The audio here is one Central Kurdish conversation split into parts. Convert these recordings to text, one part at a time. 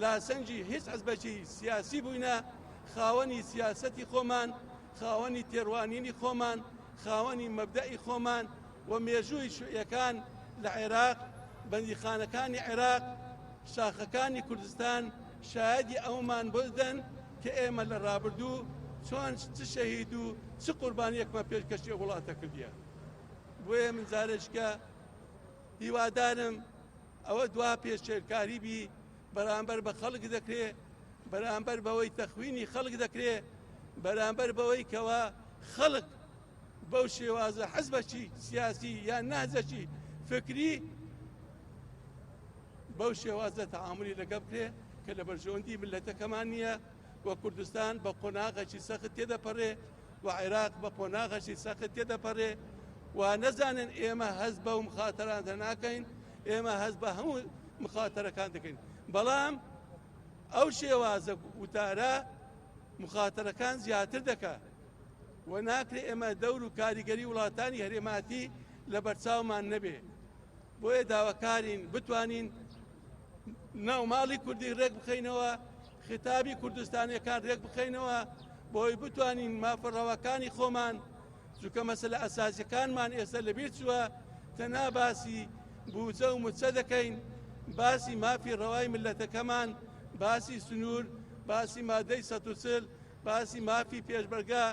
لە سەنگی هیچ حزبەکی سیاسی بووینە خاوەنی سیاسەتی خۆمان، خاوەنی تێڕوانینی خۆمان، خاوەنی مەبدەئی خۆمان و مێژووی شیوعیەکان لە عێراق، بەندیخانەکانی عێراق، شاخەکانی کوردستان شایەدی ئەوەمان بۆ دەدەن کە ئێمە لە ڕابردوو چۆن چ شەهید و چ قوربانیەکمان پێشکەشی وڵاتە کردیە. بۆیە من جارێکیکە هیوادارم ئەوە دوا پێشێلکاری بی بەرامبەر بە خەڵک دەکرێ بەرامبەر بەوەی تەخوینی خەڵک دەکرێ بەرامبەر بەوەی کەوە خەڵک بەو شێوازە حەزبەکی سیاسی یان نازەکی فکری بەو شێوازە تەعاملی لەگە بکرێ کە لە بەرژەوەندی ملەتەکەمان نییە و کوردستان بە قۆناغەکی سەخت تێدەپەڕێ و عێراق بە قۆناغەشی سەخت تێدەپەرێ و نەزانن ئێمە هەست بە و مخاتەرانتە ناکەین ئێمە هەست بە هەموو مخاتەرەکان دەکەین بەڵام ئەو شێوازە وتارە مخاتەرەکان زیاتر دەکە و ناکرێ ئێمە دەور و کاریگەری وڵاتانی هەرێماتی لە بەرچاومان نەبێ بۆیە داواکارین بتوانین ناو ماڵی کوردی ڕێک بخەینەوە خیتابی کوردستانیەکان ڕێک بخەینەوە بۆی بتوانین مافەڕەوەکانی خۆمان جوکە مەسلە ئەسازیەکانمان ئێستا لەبیر چووە تەنا باسی بوجە و مچە دەکەین باسی مافی ڕەوای ملەتەکەمان باسی سنوور باسی مادەی سەتوچل باسی مافی پێشبەرگا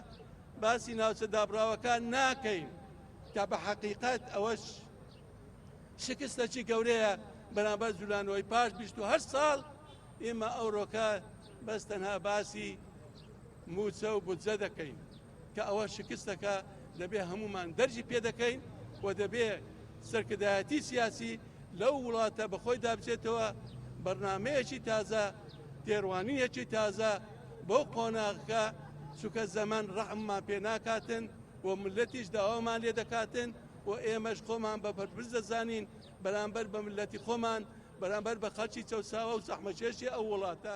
باسی ناوچە دابراوەکان ناکەین کە بە حەقیقەت ئەوەش شکستەکی گەورەیە بەرامبەر جولانەوەی پاش 28 ساڵ ئێمە ئەوڕۆکە بەس تەنها باسی موچە و بودجە دەکەین کە ئەوە شکستەکە دەبێ هەمومان دەرجی پێ دەکەین و دەبێ سەرکردایەتی سیاسی لەو وڵاتە بەخۆی دابچێتەوە بەرنمەیەکی تازە تێڕوانینێکی تازە بۆ قۆناغەکە چکە زەمان ڕەحممان پێ ناکاتن و ملەتیش داوامان لێ دەکاتن و ئێمەش خۆمان بە بەرپرس دەزانین بەرامبەر بە مللەتی خۆمان، بەرامبەر بە خەڵکی چەوساوە و زەحمەتکێشی ئەو وڵاتە.